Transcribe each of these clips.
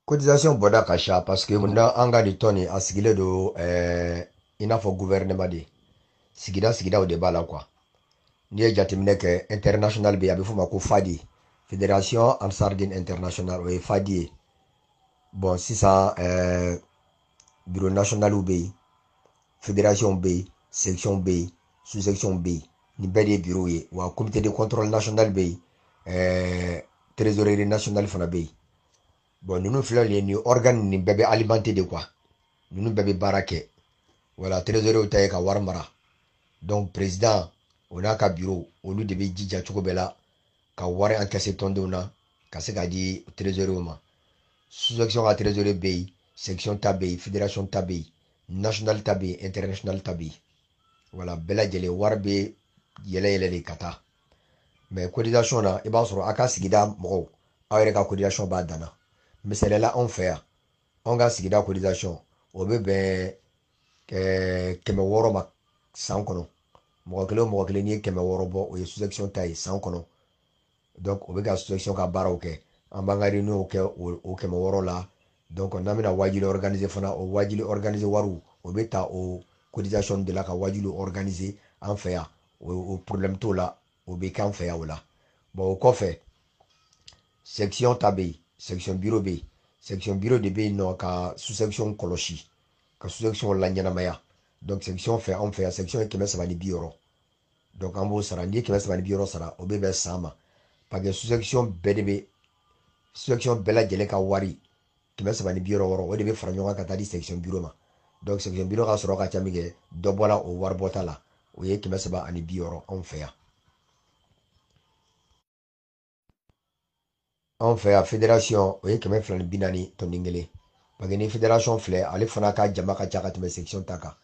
cotisation bɔda ka ca parce que munna an ka nin tɔn nin a sigilen don eh, i n'a fɔ gouvernement de sigida sigidaw de b'a la quoi n'i ye jateminɛ kɛ international bɛ yen a bɛ f'o ma ko fadi fédération ansardine international o ye fadi ye bon sisan eh, biro nationaliw bɛ yen federasiɔnw bɛ yen sekisiɔnw bɛ yen susekisiɔnw bɛ yen nin bɛɛ de ye biro ye wa komite de kɔntɔrɔli national bɛ yen ɛɛ trezoreri national fana bɛ yen bon ninnu filɛ nin ye nin ɔrigani nin bɛɛ bɛ alimante de quoi ninnu bɛɛ bɛ baara kɛ wala trezorew ta ye ka wari mara donc prezidan o n'a ka biro olu de bɛ jija cogo bɛɛ la ka wari encaisser tɔndenw na ka se k'a di trésorier ma sous-section ka trésorier bɛ yen section ta bɛ yen fédération ta bɛ yen national ta bɛ yen international ta bɛ yen wala bɛɛ lajɛlen wari bɛ yɛlɛ yɛlɛ de ka taa mais cotisation na i b'a sɔrɔ a ka sigida mɔgɔw aw yɛrɛ ka cotisation b'a dan na misali la anw fɛ yan anw ka sigida cotisation o bɛ bɛn eh, kɛmɛ wɔɔrɔ ma san kɔnɔ mɔgɔ kelen o mɔgɔ kelen n'i ye kɛmɛ wɔɔrɔ bɔ o ye sous-section ta ye san kɔnɔ donc o bɛ ka sous-section ka baaraw kɛ an b'an ka réunion kɛ o kɛmɛ wɔɔrɔ la donc n'an bɛna waajuli organiser fana o waajuli organiser wariw o bɛ ta o cotisation de la ka waajuli organiser an fɛ yan o problème t'o la o bɛ k'an fɛ yan o la o kɔfɛ section ta bɛ yen section biro bɛ yen section biro de bɛ yen nɔ ka sous-section kɔlɔsi ka sous-section laɲɛnamaya donc section fɛ anw fɛ yan section ye kɛmɛ saba ni bi wɔɔrɔ donc an b'o sara n'i ye kɛmɛ saba ni bi wɔɔrɔ sara o bɛ bɛn san ma parce que sous-section bɛɛ de bɛ sous-section bɛɛ lajɛlen ka wari kɛmɛ saba ni bi wɔɔrɔ wɔɔrɔ o de bɛ fara ɲɔgɔn kan ka taa di section biro ma donc section biro ka sɔrɔ ka ca min kɛ dɔ bɔra o waribɔta la o ye kɛmɛ saba ani bi wɔɔrɔ anw fɛ yan anw fɛ yan federation o ye kɛmɛ fila ni bi naani tɔnden kelen parce que ni federation filɛ ale fana ka jama ka ca ka tɛmɛ section ta kan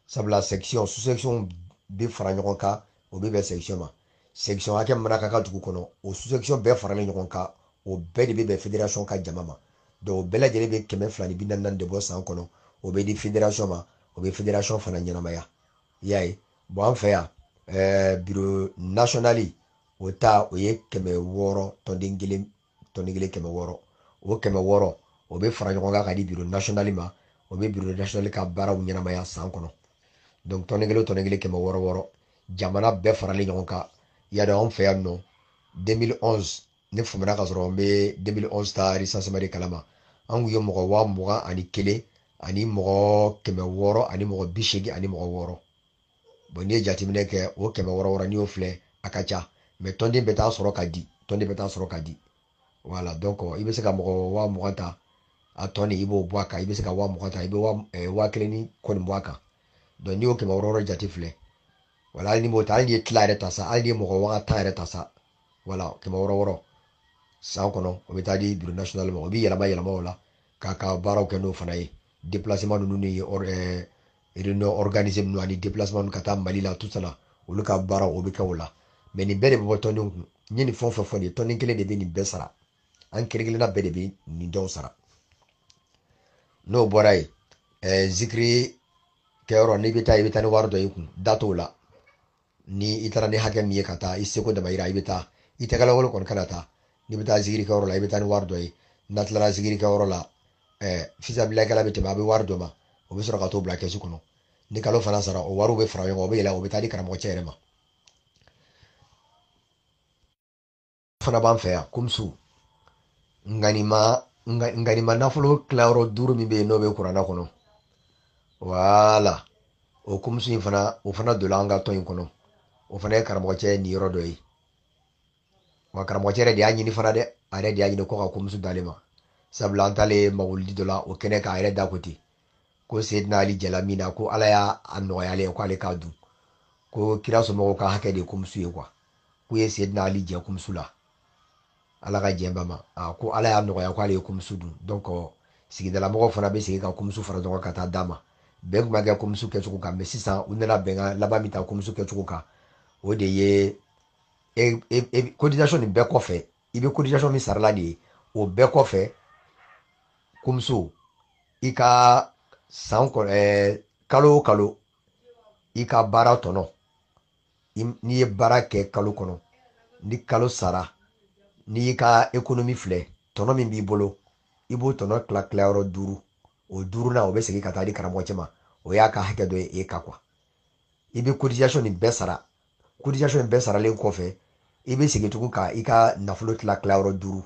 sabula section sous section bɛ fara ɲɔgɔn kan o bɛ bɛn section ma section hakɛ mana ka ka dugu kɔnɔ o sous-section bɛɛ faralen ɲɔgɔn kan o bɛɛ de bɛ bɛn fédération ka jama ma donc o bɛɛ lajɛlen bɛ kɛmɛ fila ni bi naani naani de bɔ san kɔnɔ o bɛ di fédération ma o bɛ fédération fana ɲɛnamaya i y'a ye bon an fɛ yan ɛɛ biro nationali o ta o ye kɛmɛ wɔɔrɔ tɔnden kelen tɔnden kelen kɛmɛ wɔɔrɔ o kɛmɛ wɔɔrɔ o bɛ fara ɲɔgɔn kan k'a di biro nasionali ma o bɛ biro nasionali ka baaraw ɲɛnamaya san kɔnɔ donc tɔnden kelen tɔnden kelen kɛmɛ wɔɔrɔ wɔɔrɔ jamana bɛɛ faralen ɲɔgɔn kan y'a dɔn anw fɛ yan nɔ 2011 ne fumana k'a sɔrɔ n bɛ 2011 ta recensement de kalama an kun ye mɔgɔ waa mugan ani kelen ani mɔgɔ kɛmɛ wɔɔrɔ ani mɔgɔ bi seegin ani mɔgɔ wɔɔrɔ bɔn n'i ye jateminɛ kɛ o kɛmɛ wɔɔrɔ wɔɔrɔ n'i y'o filɛ a ka ca mais tɔnden bɛɛ t'a sɔrɔ k'a di tɔnden bɛɛ t'a sɔrɔ k'a di wala donc i bɛ se ka mɔgɔ waa mugan ta a tɔni i b'o bɔ a kan i bɛ se ka waa mugan ta i bɛ waa kelen ni kɔni bɔ a kan donc n'i y'o kɛmɛ wɔɔrɔ wɔɔrɔ jate filɛ wala hali n'i b'o ta hali n'i ye tila yɛrɛ ta sa hali n'i ye mɔgɔ waa tan yɛrɛ ta sa wala kɛmɛ wɔɔrɔ wɔɔrɔ san kɔnɔ o bɛ taa di biro national ma o bɛ yɛlɛma yɛlɛma o la k'a ka baaraw kɛ n'o fana ye déplacement ninnu ni réunion organisée ninnu ani déplacement ka taa Mali la tout ça olu ka baara o bɛ kɛ o la mais nin bɛɛ de bɛ bɔ tɔnden kun n ye nin fɛn o fɛn fɔ nin ye tɔnden kelen de bɛ nin bɛɛ sara an kelen kelenna bɛɛ de bɛ nin dɔw sara n'o bɔra yen ɛɛ zikiri kɛyɔrɔ n'i bɛ taa i bɛ taa ni wari dɔ y'i kun da t'o la ni i taara ni hakɛ min ye ka taa i seko damayira i bɛ taa i tɛgɛ lankolon kɔni kana taa n'i bɛ taa zikiri kɛyɔrɔ la i bɛ taa ni wari dɔ ye n'a tilara zikiri kɛyɔrɔ la fisabilakɛla bɛ tɛmɛ a bɛ wari d'o ma o bɛ sɔrɔ ka t'o bila kɛsu kɔnɔ ni kalo fana sara o wariw bɛ fara ɲɔgɔn kan o bɛ yɛlɛ o bɛ taa di karamɔgɔcɛ yɛrɛ ma fana b'an fɛ yan kumusu nganima nganima nafolo tilayɔrɔ duuru min bɛ yen n'o bɛ kuranɛ kɔnɔ wala o kumusu in fana o fana donna an ka tɔn in kɔnɔ o fana ye karamɔgɔcɛ niyɔrɔ dɔ ye wa karamɔgɔcɛ yɛrɛ de y'a ɲini fana dɛ a yɛrɛ de y'a ɲini ko ka kumusu d'ale ma sabula an taalen mawuludi dɔ la o kɛnɛ kan a yɛrɛ da ko ten ko seydina ali jɛla min na ko ala y'a nɔgɔya ale ye ko ale k'a dun ko kira somɔgɔw ka hakɛ de ye kumusu ye quoi k'u ye seydina ali jɛ kumusu la ala ka jɛn a ma a ko ala y'a nɔgɔya ko ale ye kumusu dun donc sigidalamɔgɔw fana bɛ segin ka kumusu fara ɲɔgɔn ka taa d'a ma bɛn tun ma kɛ kumusu kɛcogo kan mais sisan u nana bɛnkan laban min ta kumusu kɛcogo kan o de ye e, e, e, cotisation nin bɛɛ kɔfɛ i bɛ cotisation min sarala nin ye o bɛɛ kɔfɛ kumusu i ka san kɔnɔ ɛɛ kalo o kalo i ka baara tɔnɔ n'i ye baara kɛ kalo kɔnɔ ni kalo sara n'i y'i ka ekonomi filɛ tɔnɔ min b'i bolo i b'o tɔnɔ tila tilayɔrɔ duuru o duurunan o bɛ segin ka taa di karamɔgɔcɛ ma o y'a ka hakɛ dɔ ye e ka quoi i bɛ cotisation nin bɛɛ sara cotisation in bɛɛ saralen kɔfɛ i bɛ segin tugun ka i ka nafolo tila tilayɔrɔ duuru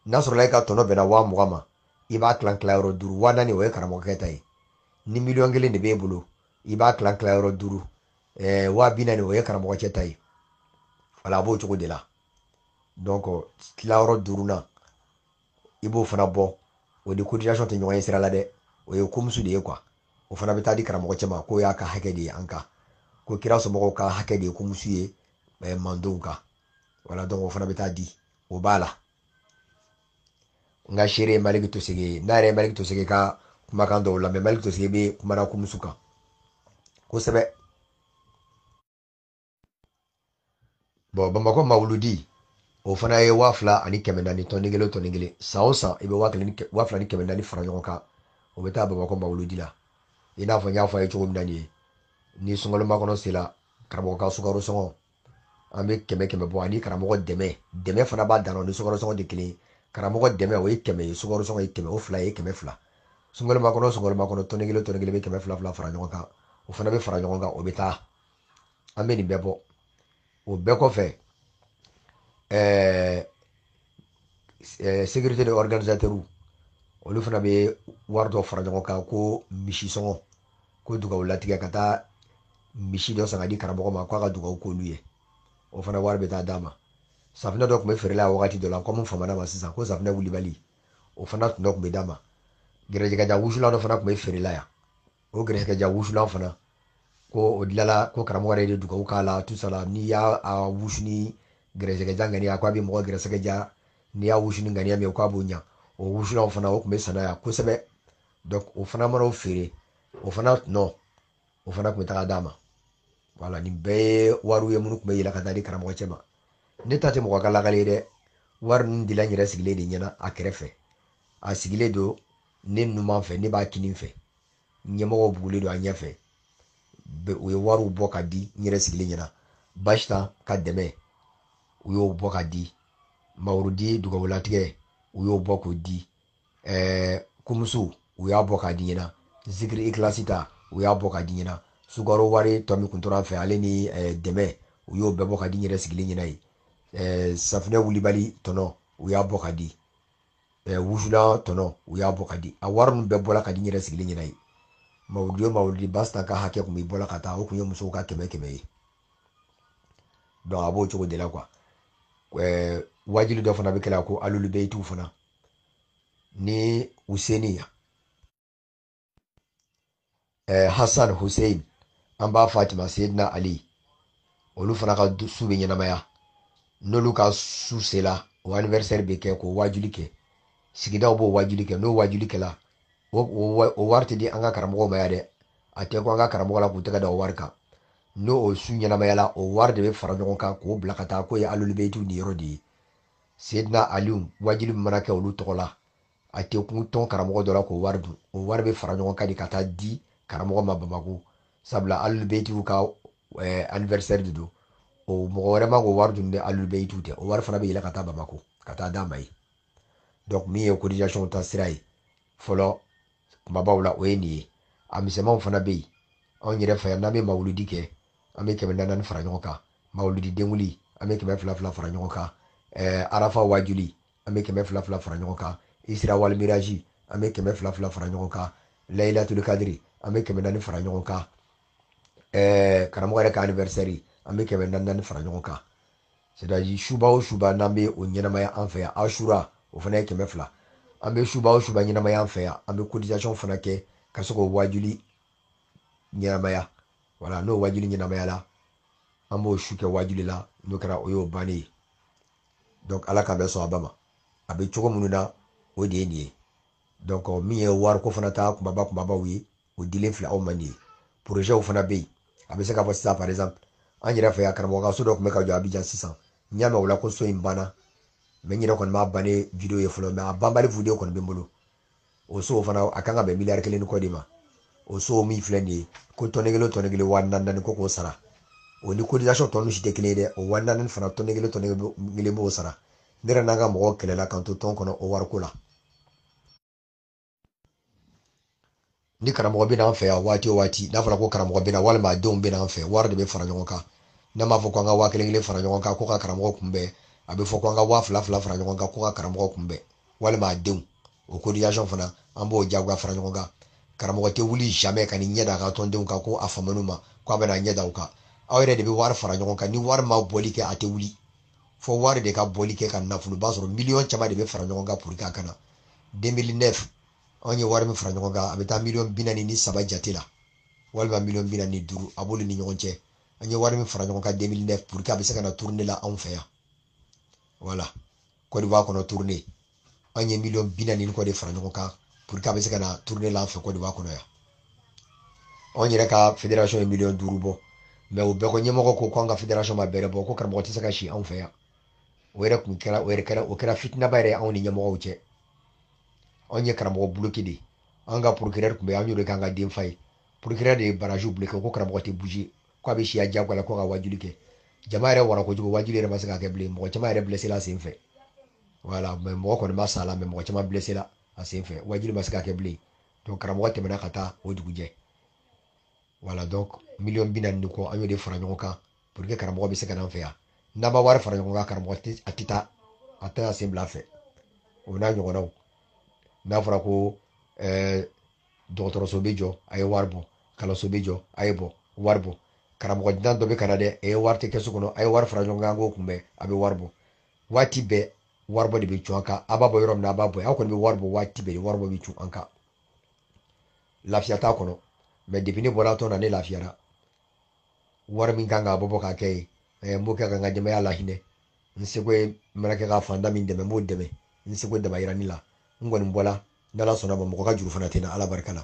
n'a sɔrɔla i ka tɔnɔ bɛnna waa mugan ma i b'a tila tilayɔrɔ duuru waa naani o ye karamɔgɔkɛ ta ye ni miliyɔn kelen de b'e bolo i b'a tila tilayɔrɔ duuru ɛɛ waa bi naani o ye karamɔgɔcɛ ta ye wala a b'o cogo de la donc tilayɔrɔ duurunan i b'o fana bɔ o ni cotisation tɛ ɲɔgɔn ye sira la dɛ o ye komusu de ye quoi o fana bɛ taa di karamɔgɔ cɛ ma k'o y'a ka hakɛ de ye an kan ko kira somɔgɔw ka hakɛ de ye komusu ye eh, mandenw kan voilà donc o fana bɛ taa di o b'a la n ka seere ye maliki tosege ye n'a yɛrɛ ye maliki tosege ka kumakan dɔw lamɛn maliki tosege bɛ kuma na komusu kan kosɛbɛ bon bamakɔ mawuludi o fana ye waa fila ani kɛmɛ naani tɔni kelen tɔni kelen san o san i bɛ waa kelen waa fila ni kɛmɛ naani fara ɲɔgɔn kan o bɛ taa bamakɔ mawuludi la i n'a fɔ n y'a fɔ a ye cogo min na nin ye ni sunkalo makɔnɔ sera karamɔgɔ ka sukaro sɔngɔ an bɛ kɛmɛ kɛmɛ bɔ ani karamɔgɔ dɛmɛ dɛmɛ fana b'a dan ni sukaro sɔngɔ tɛ kelen karamɔgɔ dɛmɛ o ye kɛmɛ ye sukaro sɔngɔ ye kɛmɛ o fila ye kɛmɛ fila sunkalo makɔnɔ sunkalo makɔnɔ tɔni kelen tɔni kelen bɛ kɛmɛ fila fila fara ɲɔgɔn kan o fana bɛ fara ɲɔgɔn kan o bɛ taa an bɛ nin bɛɛ bɔ o bɛɛ kɔfɛ ɛɛ ɛɛ sécurité de organisateur olu fana bɛ wari dɔ fara ɲɔgɔn kan ko misi sɔngɔ ko dugawu latigɛ ka taa misi dɔ san ka di karamɔgɔ ma k'a ka dugawu k'olu ye o fana wari bɛ taa d'a ma safinɛ dɔ tun bɛ feere la wagati dɔ la kɔmi famana ma sisan ko safinɛ wulibali o fana tun dɔ tun bɛ d'a ma gɛrɛjɛgɛ diya wusulan dɔ fana tun bɛ feere la yan o gɛrɛsɛgɛ diya wusulan fana ko o dilala ko karamɔgɔ yɛrɛ de dugawu k'a la tout ça là n'i y'a wusu ni gɛrɛsɛgɛ diya ŋaniya ko a bɛ mɔgɔ gɛrɛsɛgɛ diya n'i y'a wusu ni ŋaniya min ye k'a b'o ɲa o wusulanw fana o tun bɛ san na yan kosɛbɛ donc o fana mana o feere o fana tɔnɔ o fana tun bɛ taga d'a ma voilà nin bɛɛ ye wariw ye minnu tun bɛ yɛlɛ ka taa di karamɔgɔ cɛ ma ne ta tɛ mɔgɔ ka lakali ye dɛ wari ninnu dila n yɛrɛ sigilen de ɲɛna a kɛrɛfɛ a sigilen don ne numan fɛ ne b'a kinin fɛ ɲɛmɔgɔ bugulen don a ɲɛfɛ u ye wariw bɔ ka di n yɛrɛ sigilen ɲɛna basitan ka dɛmɛ u y'o bɔ ka di mawuludi dugawulatigɛ u y'o bɔ k'o di ɛɛ kumusu u y'a bɔ k'a di n ɲɛna zikiri ikilasi ta u y'a bɔ ka di n ɲɛna sukaro wari tɔ min kun tora fɛ ale ni eh, dɛmɛ u y'o bɛɛ bɔ ka di n yɛrɛ sigilen ɲɛna yen eh, safinɛ wulibali tɔnɔ u y'a bɔ ka di ɛ wusulan tɔnɔ u y'a bɔ ka di a wari ninnu bɛɛ bɔra ka di n yɛrɛ sigilen ɲɛna yen mawuludi o mawuludi basta ka hakɛ tun bɛ bɔ la ka taa o tun ye musow ka kɛmɛ kɛmɛ ye donc a b'o cogo de la quoi ɛɛ waajuli dɔ fana bɛ kɛ la ko alulu bayitiw fana ni useni yan eh, hassan hussein an ba fatima seydina ali olu fana ka su bɛ ɲɛnamaya n'olu ka su sela o anniversaire bɛ kɛ k'o waajuli kɛ sigidaw b'o waajuli kɛ n'o waajuli kɛla o wari tɛ di an ka karamɔgɔw ma yan dɛ a tɛ kun an ka karamɔgɔ la k'u tɛgɛ da o wari kan n'o o su ɲɛnamayala o wari de bɛ fara ɲɔgɔn kan k'o bila ka taa k'o ye alolibeyitiw niyɔrɔ de ye seydina aliw waajuli min mana kɛ olu tɔgɔ la a tɛ kun tɔn karamɔgɔ dɔ la k'o wari dun o wari bɛ fara ɲɔgɔn kan de ka taa di karamɔgɔ ma bamako sabula alibetiw ka eh, anniversaire de don o mɔgɔ wɛrɛ man kan k'o wari dun ni alibetiw tɛ o wari fana bɛ yɛlɛ ka taa bamako ka taa d'a ma yen donc min ye cotisation ta sira ye fɔlɔ kumabaw la o ye nin ye a misɛnmanw fana bɛ yen anw yɛrɛ fɛ yan n'an bɛ mawuludi kɛ an bɛ kɛmɛ naani fara ɲɔgɔn kan mawuludi denkunli an bɛ kɛmɛ fila fila fara ɲɔgɔn kan eh, arafa waajuli an bɛ kɛmɛ fila fila fara ɲɔgɔn kan isira walimiraji an bɛ kɛmɛ fila fila fara ɲɔgɔn kan layilatul kadiri an bɛ kɛmɛ naani fara ɲɔgɔn kan ɛɛ karamɔgɔ yɛrɛ ka anniversaire an bɛ kɛmɛ naani naani fara ɲɔgɔn kan c'est à dire suba o suba n'an bɛ o ɲɛnamaya an fɛ yan asura o fana ye kɛmɛ fila an bɛ suba o suba ɲɛnamaya an fɛ yan an bɛ cotisation fana kɛ ka se k'o waajuli ɲɛnamaya wala n'o waajuli ɲɛnamayala an b'o su kɛ waajuli la n'o kɛra o y'o bannen ye donc ala ka bɛ sɔn a ba ma a bɛ cogo minnu na o de ye nin ye donc min ye wariko fana ta kumaba kumabaw ye o dilen filɛ aw ma nin ye porozɛw fana bɛ yen a bɛ se k'a fɔ sisan par exemple an yɛrɛ fɛ yan karamɔgɔ ka so dɔ tun bɛ ka jɔ abijan sisan n y'a mɛn o la ko so in banna mɛ n yɛrɛ kɔni m'a bannen video ye fɔlɔ mɛ a banbali video kɔni bɛ n bolo o so fana a kan ka bɛn miliyari kelen ni kɔ de ma o so min filɛ nin ye ko tɔnden kelen tɔnden kelen waa naani naani ko k'o sara o ni cotisation tɔ ninnu si tɛ kelen ye dɛ o waa naani fana tɔnden kelen tɔnden kelen b'o sara ne yɛrɛ n'an ka mɔgɔw kɛlɛla k'an to tɔn kɔnɔ o wariko la ni karamɔgɔ bɛ n'an fɛ yan waati o waati n'a fɔra ko karamɔgɔ bɛ na walima a denw bɛ n'an fɛ wari de bɛ fara ɲɔgɔn kan n'a m'a fɔ ko an ka waa kelen kelen fara ɲɔgɔn kan ko ka karamɔgɔ kunbɛn a bɛ fɔ ko an ka waa fila fila fara ɲɔgɔn kan ko ka karamɔgɔ kunbɛn walima a denw o cotisation fana an b'o jagoya fara ɲɔgɔn kan karamɔgɔ tɛ wuli jamais ka n'i ɲɛ da a ka tɔndenw kan ko a famana u ma ko a bɛna ɲɛ da u kan aw yɛrɛ de bɛ wari fara ɲɔgɔn kan ni wari ma bɔli kɛ a tɛ wuli fo wari de ka bɔli kɛ ka nafoloba sɔrɔ miliyɔn caman de bɛ fara ɲɔgɔn kan pour que a ka na 2009 anw ye wari min fara ɲɔgɔn kan a bɛ taa miliyɔn bi naani ni saba jate la walima miliyɔn bi naani ni duuru a b'olu ni ɲɔgɔn cɛ an ye wari min fara ɲɔgɔn kan 2009 pour que a bɛ se ka na tournée la anw fɛ yan wala Côte d'Ivoire kɔnɔ tournée anw ye miliyɔn bi naani kɔ de fara ɲɔgɔn kan pour que a bɛ se ka na tournée la an fɛ Côte d'Ivoire kɔnɔ yan anw yɛrɛ ka fédération ye miliyɔn duuru bɔ mɛ o bɛɛ kɔ ɲɛmɔgɔ ko ko an ka fédération ma bɛrɛ bɔ ko karamɔgɔ tɛ se ka si anw fɛ yan o yɛrɛ tun kɛra o yɛrɛ kɛra o kɛra fitinaba yɛrɛ anw ni ɲɛmɔgɔw cɛ anw ye karamɔgɔ buloki de an ka procureur tun bɛ an y'o de k'an ka denfa ye procureur de ye barrage buloki ko karamɔgɔ tɛ bouger ko a bɛ si yan jagoya la ko ka wajuli kɛ jama yɛrɛ wara kojugu wajuli yɛrɛ ma se ka kɛ bilen mɔgɔ caman yɛrɛ blessé la sen fɛ voilà mais mɔgɔ kɔni ma sa la mais mɔgɔ caman blessé la a sen fɛ wajuli ma se ka kɛ bilen donc karamɔgɔ tɛmɛna ka taa o dugujɛ voilà donc miliyɔn bi naani ni kɔ an y'o de fara ɲɔgɔn kan pour que karamɔgɔ bɛ se ka n'an fɛ yan n'an ma wari fara ɲɔgɔn kan karamɔgɔ tɛ a tɛ taa a tɛ sen bila an fɛ o n'a ɲɔgɔnnaw n'a fɔra ko ɛɛ dɔgɔtɔrɔso bɛ jɔ a ye wari bɔ kalanso bɛ jɔ a ye bɔ wari bɔ karamɔgɔ dunan dɔ bɛ ka na dɛ a ye wari kɛ kɛsu kɔnɔ a ye wari fara ɲɔgɔn kan an k'o kunbɛn a bɛ wari bɔ waati bɛɛ waribɔ de bɛ cun an kan a b'a bɔ yɔrɔ min na a b'a bɔ yen anw kɔni bɛ wari bɔ waati bɛɛ waribɔ bɛ cun an kan lafiya t'a kɔnɔ mais depuis ne bɔra tɔn na ne lafiyara wari min kan ka bɔ ka kɛ ye eh, n b'o kɛ ka n ka denbaya lahinɛ n seko ye mana kɛ ka faantan min dɛmɛ n b'o dɛmɛ n seko damayiranin la n kɔni bɔla n'ala sɔnn'a ma mɔgɔ ka juru fana tɛ n na ala barika la